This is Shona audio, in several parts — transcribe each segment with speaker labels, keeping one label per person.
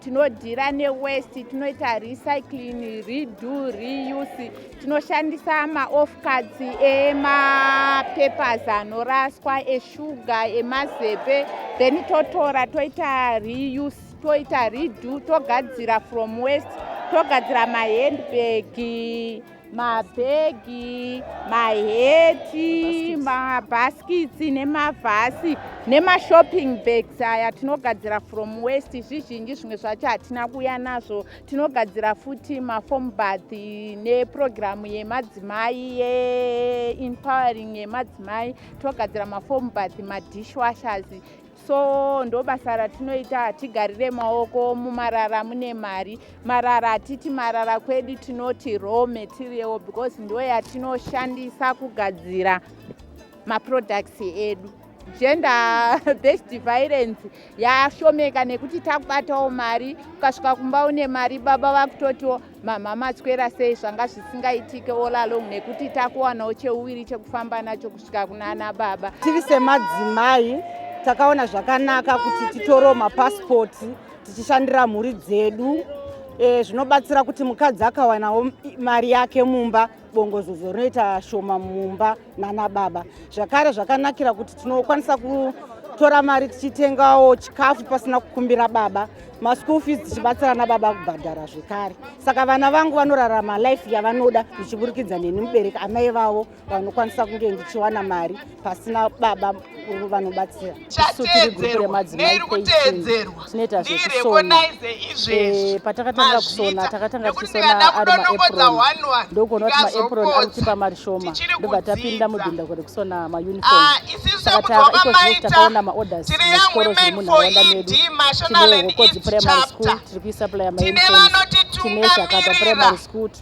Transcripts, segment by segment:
Speaker 1: tinodhira newest tinoita recycling redo reuse tinoshandisa maofcards emapapers anoraswa eshuga emazepe then totora toita reuse toita redo togadzira from west togadzira mahandbag mabhegi maheti mabhaskitsi nemavhasi nemashopping bags aya tinogadzira from west zvizhinji zvimwe zvacho hatina kuya nazvo tinogadzira futi mafom bath nepurogiramu yemadzimai yeempowering yemadzimai tinogadzira mafom bath madishwashers so ndobasa ratinoita hatigarire maoko mumarara mune mari marara hatiti marara kwedu tinoti raw material because ndo yatinoshandisa kugadzira maproducts edu gender based violence yashomeka nekuti takubatawo mari ukasvika kumba une mari baba vakutotiwo Mama maswera sei zvanga zvisingaitike all along nekuti takuwanawo cheuviri chekufamba nacho kusvika kunana baba. Tiri semadzimai
Speaker 2: takaona zvakanaka kuti titorewo mapasipoti tichishandira mhuri dzedu e, zvinobatsira kuti mukadzi akawanawo mari yake mumba bongozozo rinoita shoma mumba nana baba zvakare zvakanakira kuti tinokwanisa kutora mari tichitengawo chikafu pasina kukumbira baba maschool fees tichibatsira nababa kubhadhara zvekare saka vana vangu vanorarama life yavanoda ndichiburikidza neni mubereki amai vavo vanokwanisa kunge ndichiwana mari pasina baba uru vanobatsira chateedzerwa
Speaker 3: neiri kuteedzerwa
Speaker 2: ndirekonaize izvezvi eh, patakatanga kusona takatanga tichisona ari maapron ndokuona kuti maapron ari kutipa mari shoma ndobva tapinda mudhinda kuti kusona mauniform ah, takatanga iko zvino takaona maorders muzvikoro zviri munharaunda medu tine hokodzi primary school tiri kuisuplya mauniform tine shakata primary school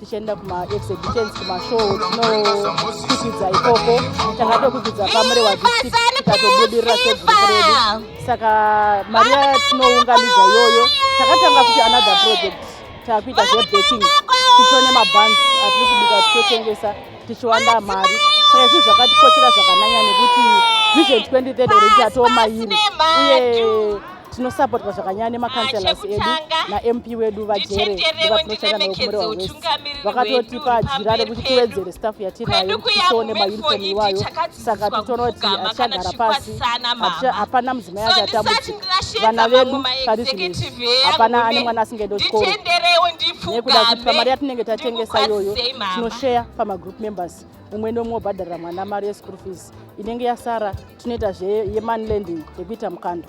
Speaker 2: tichienda kumaexhibitions kumashow tinokwikidza ikoko tanga tokwikidza pamurewa district tikatobudirira segrupu redu saka mari yatinounganidza iyoyo takatanga kuti another project takuita zvebaking tichito nemabans atiri kubika tichotengesa tichiwanda mari saka izvi zvakatikochera zvakanyanya nekuti vision 2030 rei tatomairi uye tinosapotwa zvakanyanya nemakanselas ah, edu namp wedu vajere vatinoshanda navo kumurewa west vakatotipa jira rekuti tiwedzere staff yatinayo tione maunifomu iwayo saka titoona kuti hatichagara pasi hapana mudzimai acho atambudzika vana vedu pari zvinezvi hapana ane mwana asingaende kuchikoro nekuda kuti pamari yatinenge tatengesa iyoyo tinosheya pamagroup members umwe nomwe obhadharira mwana mari yeschool fees inenge yasara tinoita zveyemoney lending yekuita mukando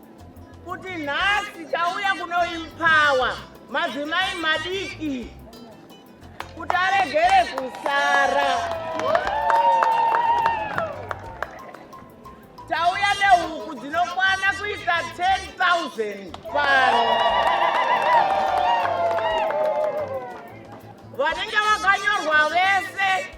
Speaker 4: kuti nhasi tauya kunoimpawa madzimai madiki kuti aregere kusara tauya nehuku dzinokwana kuita 10000 pano vanenge vakanyorwa vese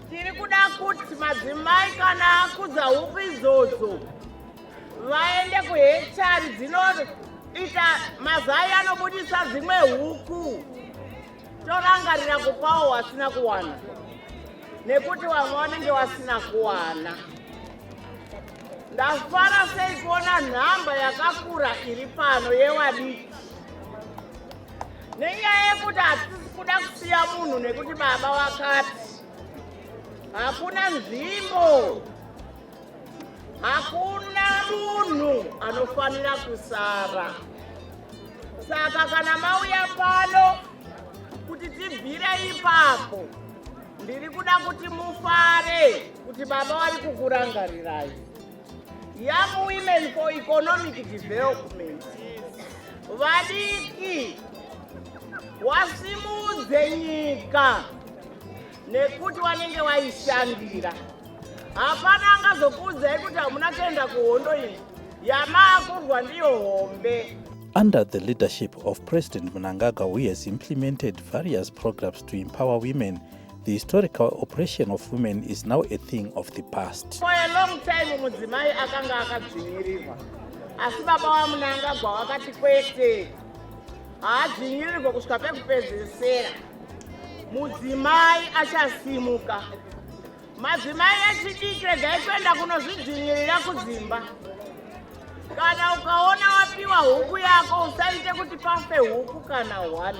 Speaker 4: Tiri kuda kuti madzimai kana akudza huku idzodzo vaende kuhechari dzinoita mazai anobudisa dzimwe huku torangarira kupawo wasina kuwana nekuti vamwe vanenge vasina kuwana ndafara sei kuona nhamba yakakura iri pano yevadiki nenyaya yekuti hatisi kuda kusiya munhu nekuti baba wakati hakuna nzvimbo hakuna munhu anofanira kusara saka kana mauya pano kuti tibvire ipapo ndiri kuda kuti mufare kuti baba vari kukurangarirai Young Women for Economic Development vadiki wasimudze nyika nekuti wanenge waishandira. Hapana angazokuudzai kuti hamuna kuenda kuhondo iyi yamaakurwa ndiyo hombe. Under the
Speaker 5: leadership of President Mnangagwa, we has implemented various programs to empower women the historical oppression of women is now a thing of the past for a long time
Speaker 4: mudzimai akanga akadzvinyirirwa asi baba wamunangagwa wakati kwete haadzvinyirirwe kusvika pekupedzesera mudzimai achasimuka madzimai echidiki regai kuenda kunozvidzvinyirira kudzimba kana ukaona wapiwa huku yako usaite kuti pafe huku kana hwani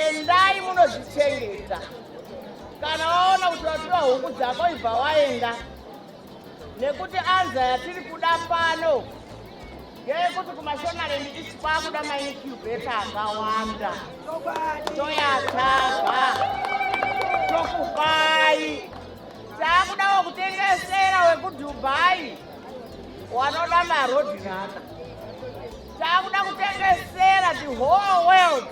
Speaker 4: endai munozvichengeta kana waona kuti wapiwa huku dzako ibva waenda nekuti anza yatiri kuda pano ngeyekuti kumashonarendi isi kwakuda mainicubeta akawanda toyatava tokupai taakudawo kutengesera wekudhubhai wanoda marodhirana Takuda kutengesera the whole world.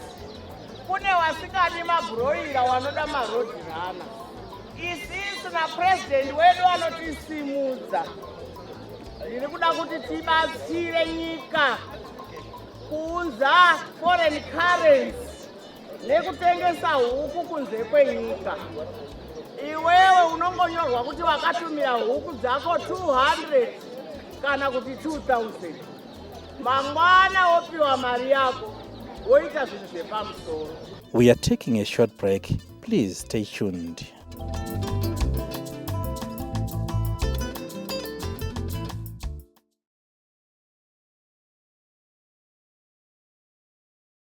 Speaker 4: Kune wasikadi mabroira wanoda maroad runner. Isisu na president wedu anotisimudza. Ndiri kuda kuti tibatsire nyika kuunza foreign currency nekutengesa huku kunze kwenyika iwewe unongonyorwa kuti wakatumira huku dzako 200 kana kuti 2000 mangwana wopiwa mari yako woita zvinhu zvepamusoro we are taking
Speaker 5: a short break please stay tuned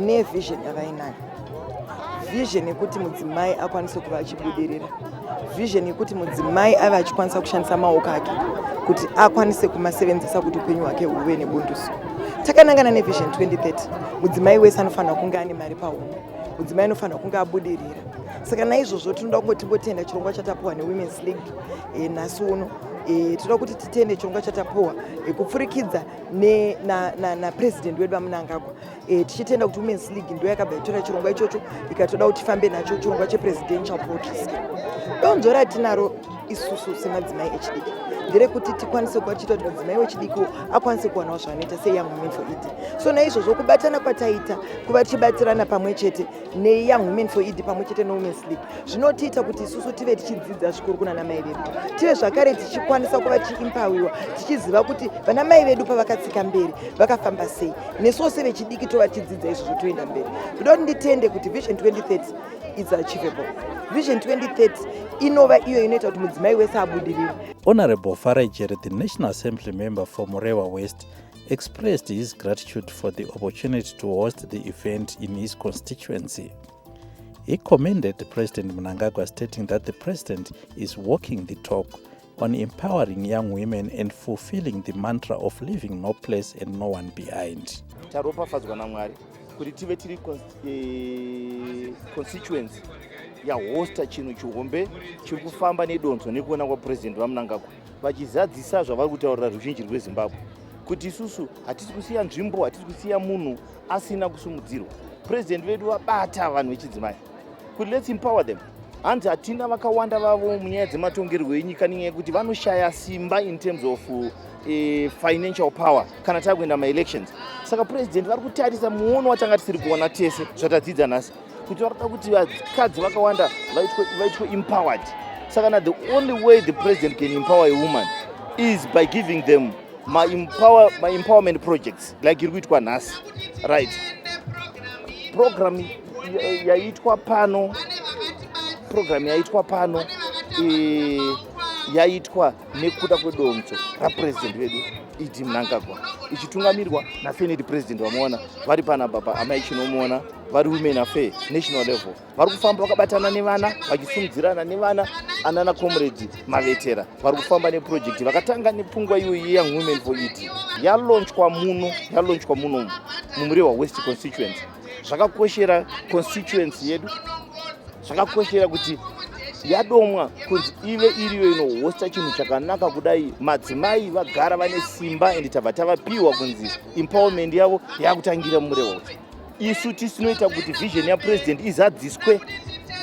Speaker 6: nevision yavainayo vision yekuti mudzimai akwanise kuva achibudirira vision yekuti mudzimai ave achikwanisa kushandisa maoko ake kuti akwanise kumasevenzesa kuti upenyu hwake huve nebunduso takanangana nevision 2030 mudzimai wese anofanira kunge ane mari pahumwe mudzimai anofanira kunge abudirira saka naizvozvo tinoda kunge timbotenda chirongwa chatapuwa newomens league e, nhasi uno e, tinoda kuti titende chirongwa chatapuwa e, kupfurikidza napresident wedu vamunangagwa e, tichitenda kuti womens league ndo yakabva yatora chirongwa ichocho ikatoda kuti tifambe nacho chirongwa chepresidential poetries donzvo ratinaro isusu semadzimai echidiki nderekuti tikwanise kuva tichiita kuti mudzimai wechidiki akwanise kuwanawo zvaanoita seyoung women for ed so naizvozvo kubatana kwataita kuva tichibatsirana pamwe chete neyoung women for ed pamwe chete newomen's league zvinotiita kuti isusu tive tichidzidza zvikuru kuna namai vedu tive zvakare tichikwanisa kuva tichiimpawiwa tichiziva kuti vana mai vedu pavakatsika mberi vakafamba sei nesuwo sevechidiki tova tichidzidza izvozvo toenda mberi ndoda kuti nditende kuti vision 2030 is achievable vision 2030 inova iyo inoita kuti mudzimai wese abudirire honorable
Speaker 5: farajere the national assembly member for murewa west expressed his gratitude for the opportunity to host the event in his constituency He commended President Mnangagwa stating that the president is walking the talk on empowering young women and fulfilling the mantra of leaving no place and no one behind. Taropafadzwa
Speaker 7: naMwari kuti tive tiri eh, constituency yahosta chinhu chihombe chiri kufamba nedonzo nekuona kwapresident vamunangagwa vachizadzisa zvavari kutaurira ruzhinji rwezimbabwe kuti isusu hatisi kusiya nzvimbo hatisi kusiya munhu asina kusimudzirwa purezidenti vedu vabata vanhu vechidzimai kuti lets empower them hanzi hatina vakawanda vavo munyaya dzematongerwo enyika nenyaya yekuti vanoshaya simba in terms of e, financial power kana tava kuenda maelections saka purezidenti vari kutarisa muono watanga tisiri kuona tese zvatadzidza nhasi kuti varikuda kuti vakadzi vakawanda vaitwe empowered saka na the only way the president can empower a woman is by giving them my, empower, my empowerment projects like iri kuitwa nhasi right program yaitwa pano program yaitwa pano yaitwa nekuda kwedonzvo rapurezidendi vedu ed mnangagwa ichitungamirwa nafeneti purezidendi vamuona vari pana baba amai chinomuona vari women affair national level vari kufamba vakabatana nevana vachisumudzirana nevana anana comrade mavetera vari kufamba neprojekti vakatanga nepfungwa iyoyi young women for ed yalonchwa muno yalonchwa muno mumurehwa west constituency zvakakoshera constituency yedu zvakakoshera kuti yadomwa kunzi ive iriyo inohosta chinhu chakanaka kudai madzimai vagara vane simba and tabva tavapiwa kunzi empowerment yavo yakutangira murehwa isu tisinoita kuti vision yapresident izadziswe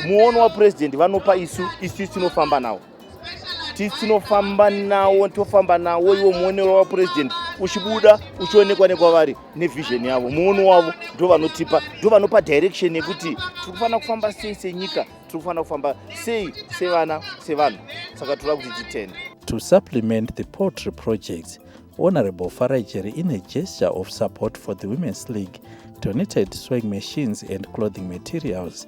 Speaker 7: muono wapresident vanopa isu isu tinofamba nawo tisi tinofamba nawo tofamba nawo iwo muonero wapurezidendi uchibuda uchionekwa nekwavari nevision yavo muono wavo ndo vanotipa ndo vanopa direction yekuti tiri kufanira kufamba sei senyika tiri kufanira kufamba sei sevana sevanhu saka toda kuti titende to supplement
Speaker 5: the poultry projects honorable farajeri in a gesture of support for the women's league donated swing machines and clothing materials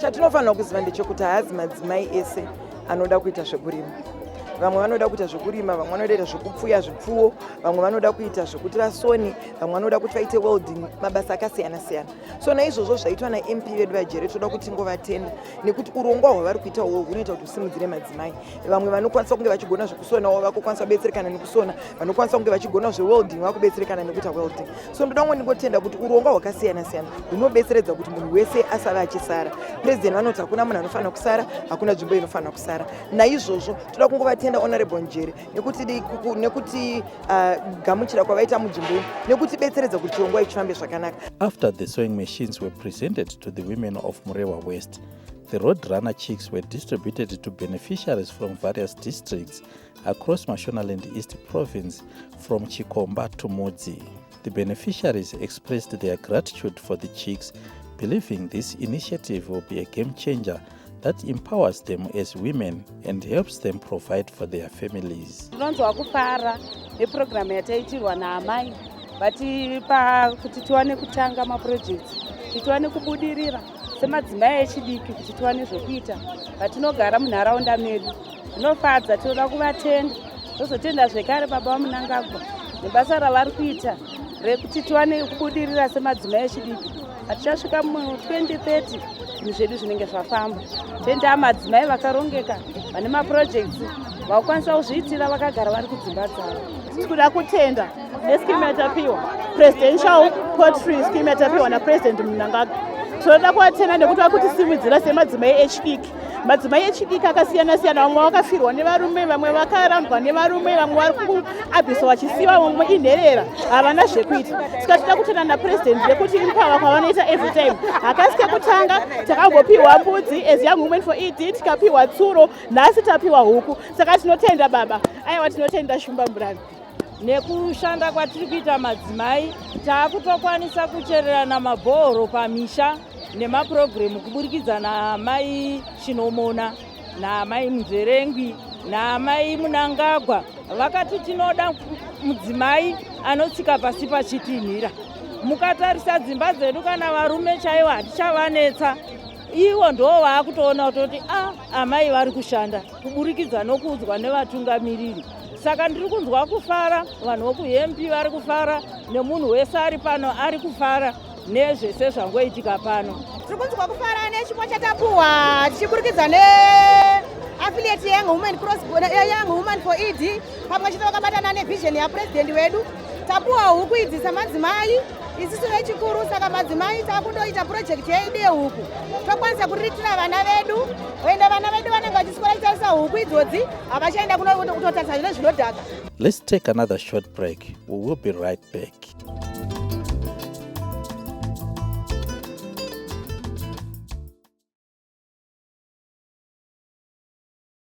Speaker 5: Chatinofanira kuziva
Speaker 6: ndechekuti haazi madzimai ese anoda kuita zvekurima vamwe vanoda kuita zvekurima vamwe vanoda kuita zvekupfuya zvipfuwo vamwe vanoda kuita zvekuti vasoni vamwe vanoda kuti vaite welding mabasa akasiyana siyana so naizvozvo zvaitwa namp vedu vajere toda kuti ngovatenda nekuti urongwa hwavari kuita uhwo hunoita kuti husimudzire madzimai vamwe vanokwanisa kunge vachigona zvekusonawo vakokwanisa kubetserekana nekusona vanokwanisa kunge vachigona zvewelding vakubetserekana nekuita welding so ndoda kunge ndingotenda kuti urongwa hwakasiyana siyana hunobetseredza kuti munhu wese asave achisara president vanoti hakuna munhu anofanira kusara hakuna nzvimbo inofanira kusara naizvozvo toda kungovatenda honorable njere nekuti ah, gamuchira kwavaita munzvimbo ino nekutibetseredza kuti chirongwa ichi chifambe zvakanaka after the sewing
Speaker 5: machines were presented to the women of murewa west the road runner chicks were distributed to beneficiaries from various districts across Mashonaland East province from Chikomba to Mudzi. The beneficiaries expressed their gratitude for the chicks, believing this initiative will be a game changer that empowers them as women and helps them provide for their families. Tinonzwa kufara
Speaker 2: neprogramu yataitirwa naamai vatipa kuti tiwane kutanga maprojects kuti tiwane kubudirira semadzimai echidiki kuti tiwane zvekuita patinogara munharaunda medu zvinofadza tinoda kuvatenda tozotenda zvekare baba vamunangagwa nebasa ravari kuita rekuti tiwane kubudirira semadzimai echidiki hatichasvika mu2030 zvinhu zvedu zvinenge zvafamba tendaa madzimai vakarongeka vane mapurojekts vakukwanisa kuzviitira vakagara vari kudzimba dzavo tiri kuda kutenda neskimu yatapiwa presidential potry skimu yatapiwa napresident munangagwa tinoda kuvatenda nekuti vari kutisimudzira semadzimai echidiki madzimai echidiki akasiyana siyana vamwe vakafirwa nevarume vamwe vakarambwa nevarume vamwe vari kuabhisa vachisiva vamwe inherera havana zvekuita saka tida kutenda napurezidendi yekuti impava kwavanoita every time hakasi kekutanga takambopiwa mbudzi as young women for ed tikapiwa tsuro nhasi tapiwa huku saka tinotenda baba aiwa tinotenda shumba murani Nekushanda
Speaker 3: kwatiri kuita madzimai, taakutokwanisa kuchererana mabhoro pamisha nemapurogiremu kuburikidza naamai Chinomona naamai Muzverengwi naamai Munangagwa vakati tinoda mudzimai anotsika pasi pachitinhira. Mukatarisa dzimba dzedu kana varume chaivo hatichavanetsa ivo ndoo vaakutoona kutoti a ah, amai vari kushanda kuburikidza nokuudzwa nevatungamiriri saka ndiri kunzwa kufara vanhu vokuhemp vari kufara nemunhu wese ari pano ari kufara nezvese zvangoitika pano tiri kunzwa kufara
Speaker 8: nechipo chatapuwa tichiburikidza ne affiliate young woman cross young woman for ed pamwe chete vakabatana nevision yapurezidendi wedu tapuwa huku idzi samadzimai isisu vechikuru saka madzimai takundoita purojekiti yedu yehuku tokwanisa kuriritira vana vedu oenda vana vedu vanenge vachiswera kutarisa huku idzodzi havachaenda kunototarisa zvine zvinodhaka let's take another
Speaker 5: short break we will be right back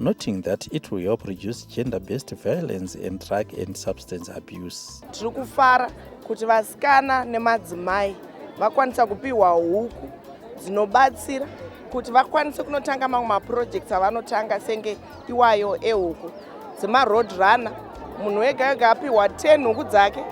Speaker 5: noting that it will help reduce gender based violence and drug and substance abuse tiri kufara
Speaker 6: kuti vasikana nemadzimai vakwanisa kupiwa huku dzinobatsira kuti vakwanise kunotanga mamwe mapurojects avanotanga senge iwayo ehuku dzemaroad runner munhu wega wega apiwa 10 huku dzake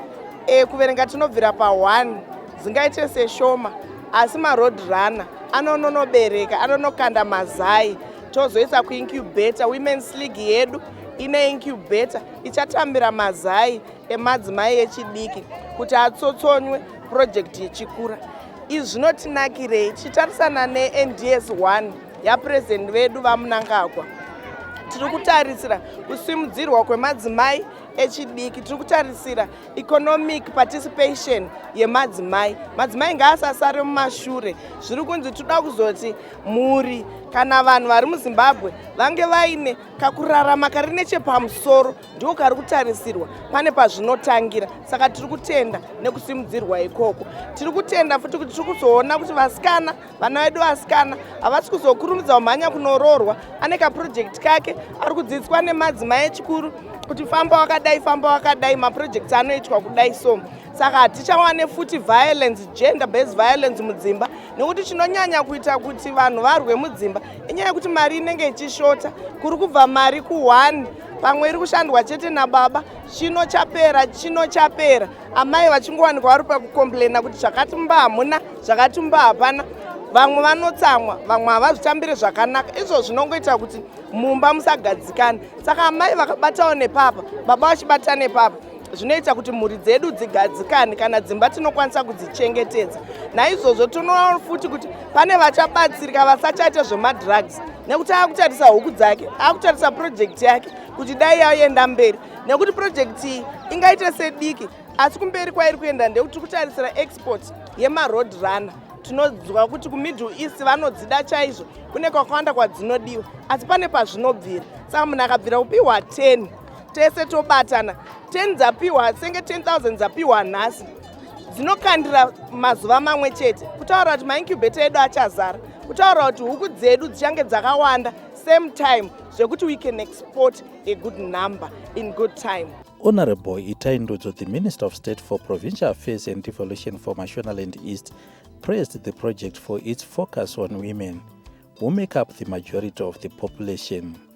Speaker 6: e, kuverenga tinobvira pa1 dzingaite seshoma asi maroad runner anononobereka anonokanda mazai tozoisa kuincubator womens league yedu ine incubator ichatambira mazai emadzimai echidiki kuti atsotsonywe purojekti yechikura izvi zvinotinakirei tichitarisana nends 1 yapurezidendi vedu vamunangagwa tiri kutarisira kusimudzirwa kwemadzimai echidiki tiri kutarisira economic participation yemadzimai madzimai ngaasasare mumashure zviri kunzi tinoda kuzoti mhuri kana vanhu vari muzimbabwe vange vaine kakurarama kari nechepamusoro ndiko kari kutarisirwa pane pazvinotangira saka tiri kutenda nekusimudzirwa ikoko tiri kutenda futi kuti tiri kuzoona kuti vasikana vana vedu vasikana havasi kuzokurumidza kumhanya kunoroorwa ane kapurojekti kake ari kudzidziswa nemadzimai echikuru kuti famba wakadai famba wakadai mapurojekti anoitwa kudai so saka hatichawane futi violence gender based violence mudzimba nekuti chinonyanya kuita kuti vanhu varwe mudzimba inyaya yekuti mari inenge ichishota kuri kubva mari kuone pamwe iri kushandwa chete nababa chino chapera chino chapera amai vachingowanikwa vari pakukomplaina kuti zvakati mba hamuna zvakati mba hapana vamwe vanotsamwa vamwe havazvitambire zvakanaka izvo zvinongoita kuti mumba musagadzikane saka amai vakabatawo nepapa baba vachibata nepapa zvinoita kuti mhuri dzedu dzigadzikane kana dzimba tinokwanisa kudzichengetedza naizvozvo tinoona futi kuti pane vachabatsirika vasachaita zvemadrugs nekuti akutarisa huku dzake akutarisa purojekti yake kuti dai yaenda mberi nekuti purojekti iyi ingaite sediki asi kumberi kwairi kuenda ndekuti tiri kutarisira export yemaroad runner tinonzwa kuti kumiddle east vanodzida chaizvo kune kwakawanda kwadzinodiwa asi pane pazvinobvira saka munhu akabvira kupiwa 10 tese tobatana 10 dzapiwa senge 10000 dzapiwa nhasi dzinokandira mazuva mamwe chete kutaura kuti maincubata edu achazara kutaura kuti huku dzedu dzichange dzakawanda same time zvekuti we can export a good number in good time honorable
Speaker 5: itai ndudzo the minister of state for provincial affairs and devolution for mashonaland east praised the project for its focus on women who make up the majority of the population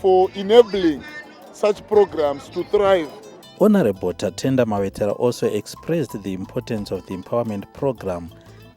Speaker 9: for enabling such programs to thrive. Honorable
Speaker 5: Tatenda Mawetera also expressed the importance of the empowerment program,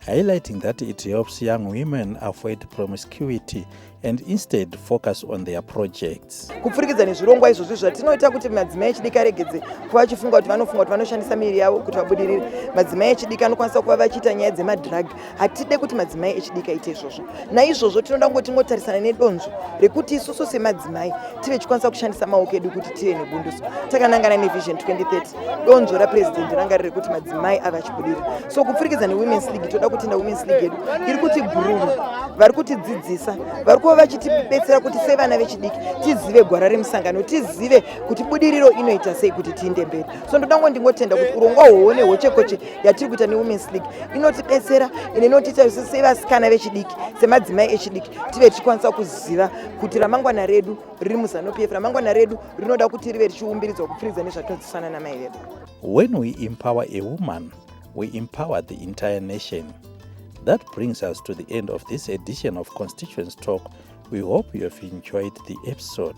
Speaker 5: highlighting that it helps young women avoid promiscuity and instead focus on their projects. Kupfurikidza nezvirongwa
Speaker 6: izvozvi zvatinoita kuti madzimai echidiki aregedze kuva achifunga kuti vanofunga kuti vanoshandisa miviri yavo kuti vabudirire. Madzimai echidiki anokwanisa kuva vachiita nyaya dzemadrug hatide kuti madzimai echidiki aite izvozvo naizvozvo tinoda kungo tingotarisana nedonzvo rekuti isusu semadzimai tive tichikwanisa kushandisa maoko edu kuti tive nebunduso takanangana nevision 2030 donzvo rapurezidendi ranga riri kuti madzimai ave achibudirira so kupfurikidza newomens league toda kutenda womens league yedu iri kuti bhururu vari kutidzidzisa vari kuva vachitibetsera kuti sevana vechidiki tizive gwara remusangano tizive kuti budiriro inoita sei kuti tiinde mberi so ndoda ngo ndingotenda kuti urongwa hwoone hwochekoche yatiri kuita newomens league inotibetsera ine inotiita isu sevasikana vechidiki semadzimai echidiki tive tichikwanisa kuziva kuti ramangwana redu riri muzanupf ramangwana redu rinoda kuti rive richiumbiridzwa kupfiridza nezvatinozisana namai vedu when we
Speaker 5: empower a woman we empower the entire nation that brings us to the end of this edition of constituents talk we hope you have enjoyed the episode